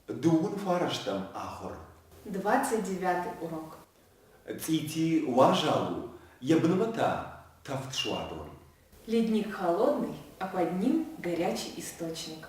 Дыууын фарастӕм ахуыр. Двадцать девятый урок. Цъити уазал у, йӕ бынмӕ та, тӕвд суадон. Ледник холодный, а под ним горячий источник.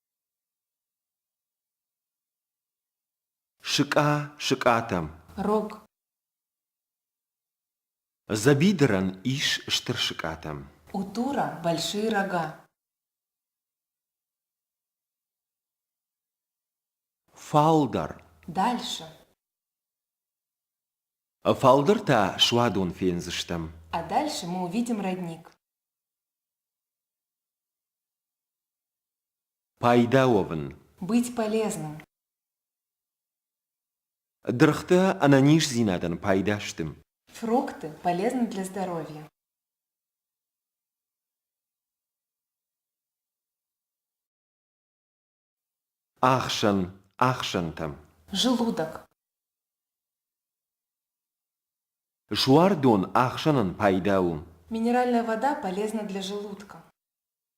Сыкъа сыкъатӕм. Рог. Забидран ис стыр сыкъатӕм. Утура – большие рога. Фалдар. Дальше. Фалдӕр та суадон фендзыстӕм. А дальше мы увидим родник. Пайда уӕвын. Быть полезным. Дыргътӕ ӕнӕниздзинадӕн пайда сты. Фрукты полезны для здоровья. Ахсӕн, ахсӕнтӕ. Желудок. Жуардон ахсӕнӕн пайда у. Минеральная вода полезна для желудка.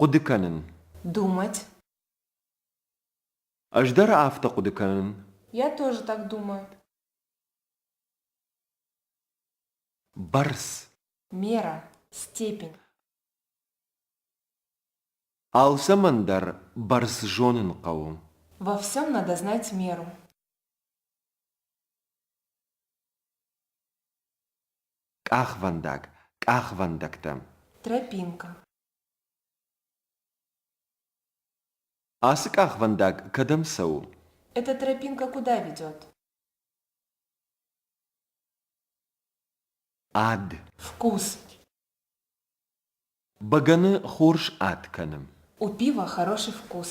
Хъуыды кӕнын. Думать. Ӕз дӕр афтӕ хъуыды кӕнын. Я тоже так думаю. Бӕрц. Мера. Степень. Алцӕмӕн дӕр бӕрц зонын хъӕуы. Во всем надо знать меру. Къахвӕндаг, къахвӕндӕгтӕ. Тропинка. Ацы къахвӕндаг кӕдӕм цӕуы? Эта тропинка куда ведет? Ад. Вкус. Бӕгӕны хорз ад кӕны. У пиво хороший вкус.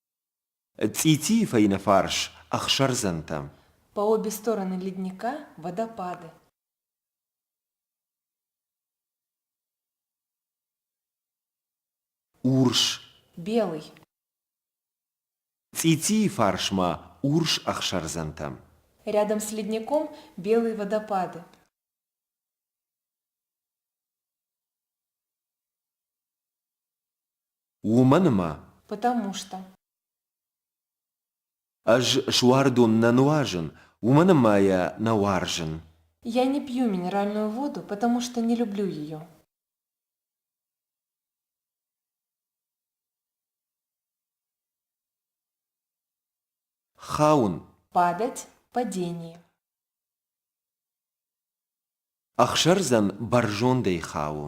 Цъитийы фӕйнӕ фарс ӕхсӕрдзӕнтӕ. По обе стороны ледника водопады. Урс. Белый. Цъитийы фарсмӕ урс ӕхсӕрдзӕнтӕ. Рядом с ледником белые водопады. Уымӕн ӕмӕ. Потому Ӕз суардон нӕ нуазын, уымӕн ӕмӕ йӕ нӕ уарзын. Я не пью минеральную воду, потому что не люблю ее. Хауын. Падать, падение. Ӕхсӕрдзӕн бӕрзондӕй хауы.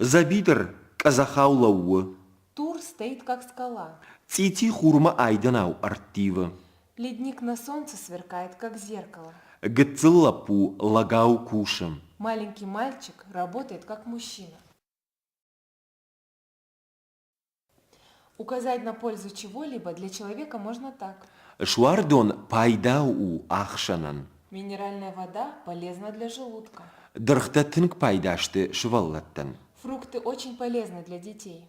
Дзӕбидыр къӕдзӕхау лӕууы. Тур стоит как скала. Цъити хурмӕ айдӕнау ӕрттивы. Ледник на солнце сверкает, как зеркало. Гыццыл лӕппу лӕгау кусы. Маленький мальчик работает, как мужчина. указать на пользу чего-либо для человека можно так Суардон пайда у ӕхсӕнӕн. Минеральная вода полезна для желудка. Дыргътӕ тынг пайда сты сывӕллӕттӕн. Фрукты очень полезны для детей.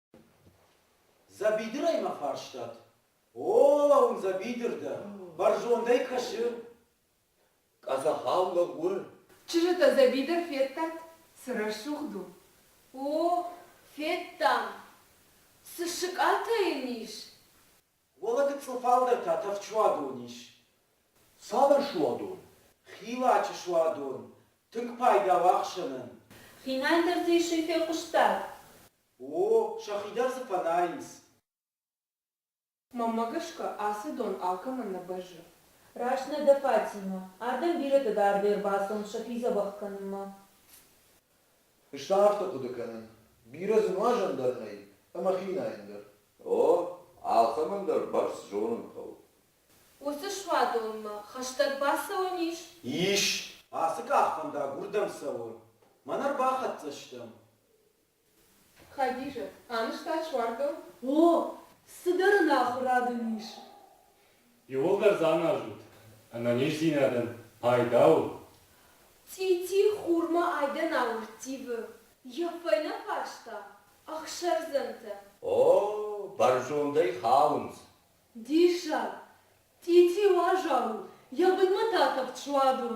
Дзӕбидырӕй мӕ фарстат? О, лӕуын дзӕбидыр дӕ, бӕрзондӕй кӕсы. Къӕдзӕхау лӕг у. Чызджытӕ, дзӕбидыр федтат? Цы рӕсугъд у! О, федтам! Цы сыкъатӕ йын ис? Уӕлӕ гыццыл фалдӕр та тӕфчуадон ис. Цавӕр суадон? Хилачы суадон, тынг пайда у ӕхсӕнӕн. Хинӕй дӕр дзы исӕй фехъуыстат? О, сӕхи дӕр дзы фӕнайынц. Мӕнмӕ гӕсгӕ, ацы дон алкӕмӕн нӕ бӕззы. Раст нӕ дӕ, Фатимӕ. Ардӕм бирӕтӕ дӕр де рбацӕуынц сӕхи дзӕбӕх кӕнынмӕ. Ыстӕ афтӕ хъуыды кӕнын. Бирӕ дзы нуазӕн дӕр нӕй, ӕмӕ хинайӕн дӕр. О, алкӕмӕн дӕр бӕрц зонын хъӕуы. Уыцы суадонмӕ хӕстӕг бацӕуӕн ис? Ис. Ацы къахвӕндаг уырдӕм цӕуы. Мӕнӕ ӕрбахӕццӕ стӕм. Хадизӕт, анызтат суардон? О, цыдӕр ын ахуырад ын ис. Иууылдӕр дзы аназут, ӕнӕниздзинадӕн пайда у. Цъити хурмӕ айдӕн ауырттивы. Йӕ фӕйнӕ фарста, ӕхсӕрдзӕнтӕ. О, бӕрзондӕй хауынц. Диссаг! Цъити уазал у, йӕ бынмӕ та тахт суадон.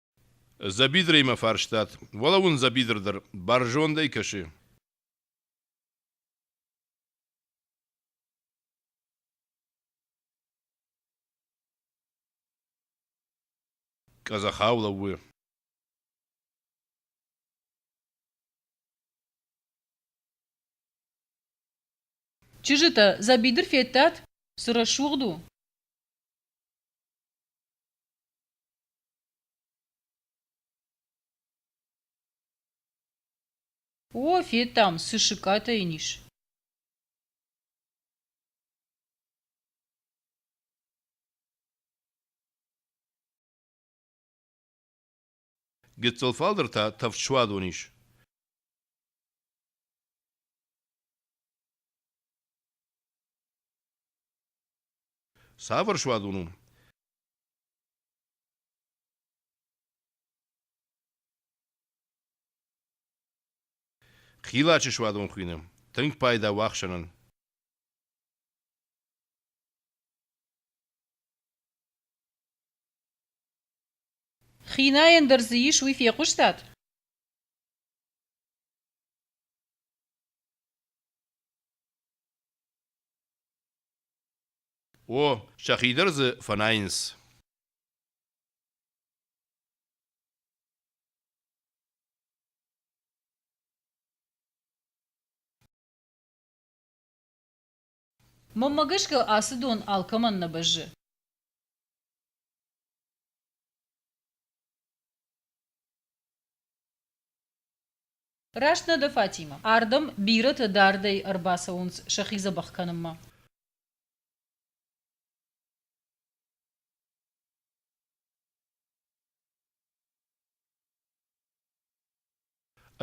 Дзӕбидрӕй мӕ фарстат. Уӕлӕуын дзӕбидр дӕр бӕрзондӕй кӕсы. Къӕдзӕхау лӕууы. Чызджытӕ, дзӕбидыр федтат? Цы рӕсугъд у? О, федтам, цы сыкъатӕ йын ис. Гыццыл фалдӕр та тӕвд суадон ис. Цавӕр суадон у? Хилачы суадон хуыйны. Тынг пайда у ӕхсӕнӕн. Хинайӕн дӕр дзы ис, уый фехъуыстат? О, сӕхи дӕр дзы фӕнайынц. Мӕнмӕ гӕсгӕ ацы дон алкӕмӕн нӕ бӕззы. Раст нӕ дӕ, Фатимӕ. Ардӕм бирӕтӕ дардӕй ӕрбацӕуынц сӕхи дзӕбӕх кӕнынмӕ.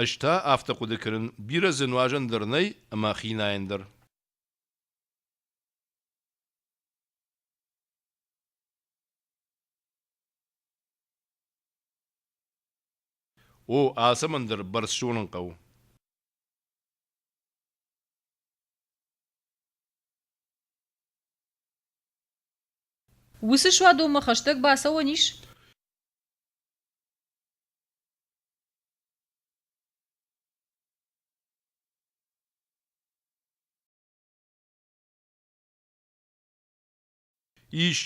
Ӕз та афтӕ хъуыды кӕнын, бирӕ дзы нуазӕн дӕр нӕй ӕмӕ хинайӕн дӕр. О, ацӕмӕн дӕр бӕрц зонын хъӕуы. Уыцы суадонмӕ хӕстӕг бацӕуӕн ис? Ис.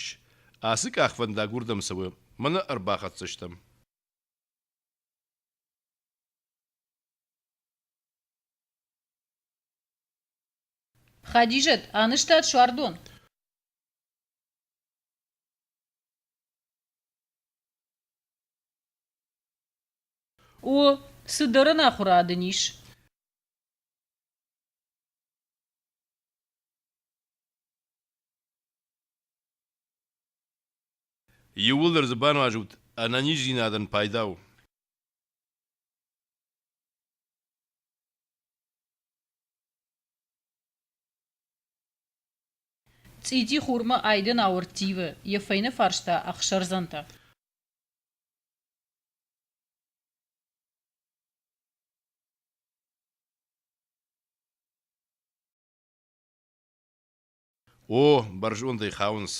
Ацы къахвӕндаг уырдӕм цӕуы. Мӕнӕ ӕрбахӕццӕ стӕм. Хадижӕт, анызтат суардон? О, цыдӕр ӕнахуырад ын ис. Иууылдӕр дзы бануазут, ӕнӕниздзинадӕн пайда у. Цъити хурмӕ айдӕн ауӕрттивы, йӕ фӕйнӕ фарста ӕхсӕрдзӕнтӕ. О, бӕрзондӕй хауынц.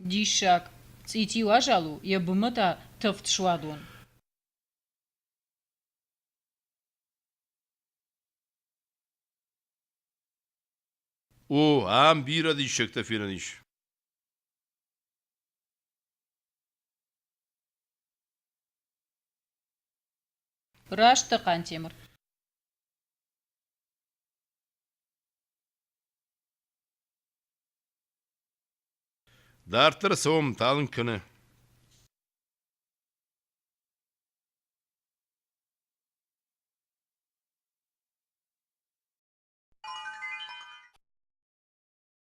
Диссаг! Цъитил азӕл у, йӕ бынмӕ та тыхт суадон. О, ам бирӕ диссӕгтӕ фенӕн ис. Раст дӕ, Хъантемыр. Дарддӕр цӕуӕм, талынг кӕны.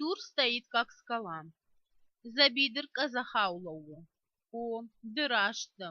Тур стоит как скала. За бедер казахау лӕууы. О, ды раст дӕ.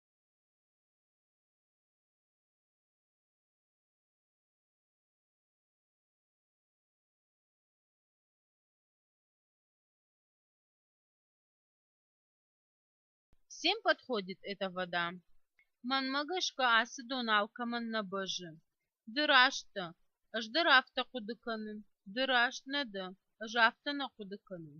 Всем подходит эта вода. Мӕнмӕ гӕсгӕ ацы дон алкӕмӕн нӕ бӕззы. Ды раст дӕ. Ӕз дӕр афтӕ хъуыды кӕнын. Ды раст нӕ дӕ. Ӕз афтӕ нӕ хъуыды кӕнын.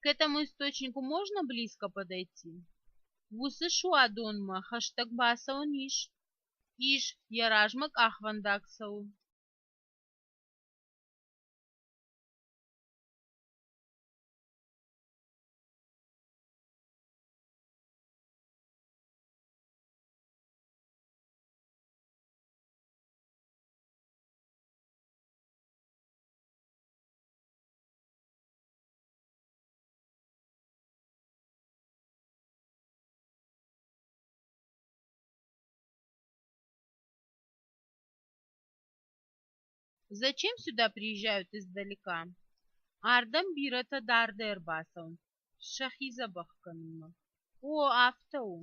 К этому источнику можно близко подойти? Уыцы суадонмӕ хӕстӕг бацӕуӕн ис? Ис, йӕ размӕ къахвӕндаг цӕуы. Зачем сюда приезжают издалека? Ардӕм бирӕтӕ дардӕй ӕрбацӕуынц, сӕхи дзӕбӕх кӕнынмӕ. О, афтӕ у.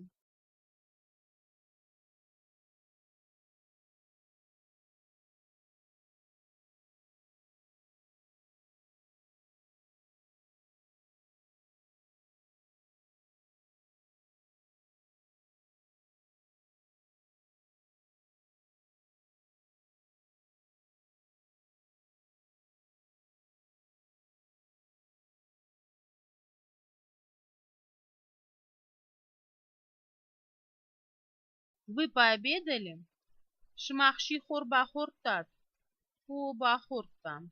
Вы пообедали? Сымах сихор бахордтат? О, бахордтам.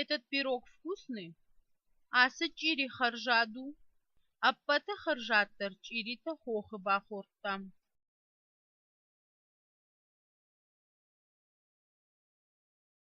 Этот пирог вкусный? Ацы чъири хӕрзад у? Ӕппӕты хӕрзаддӕр чъиритӕ хохы бахордтам.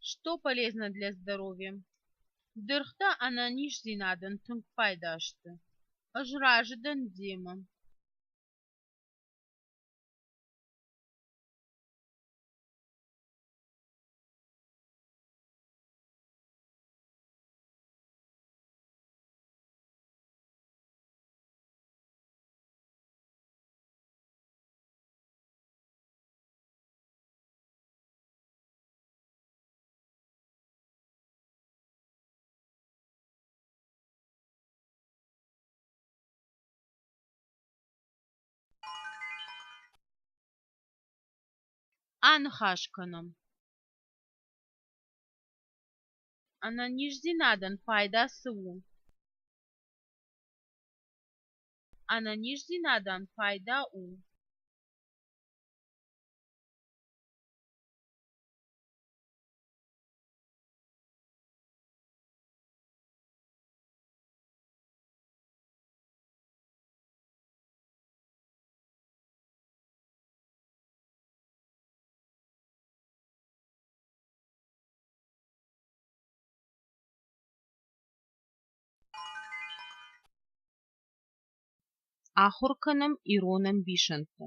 Что полезно для здоровья? Дыргътӕ ӕнӕниздзинадӕн тынг пайда сты. Ӕз разы дӕн демӕ. Аныхас кӕнӕм. Ӕнӕниздзинадӕн пайда цы у? Ӕнӕниздзинадӕн пайда у? Ахуыр кӕнӕм ирон ӕмбисӕндты.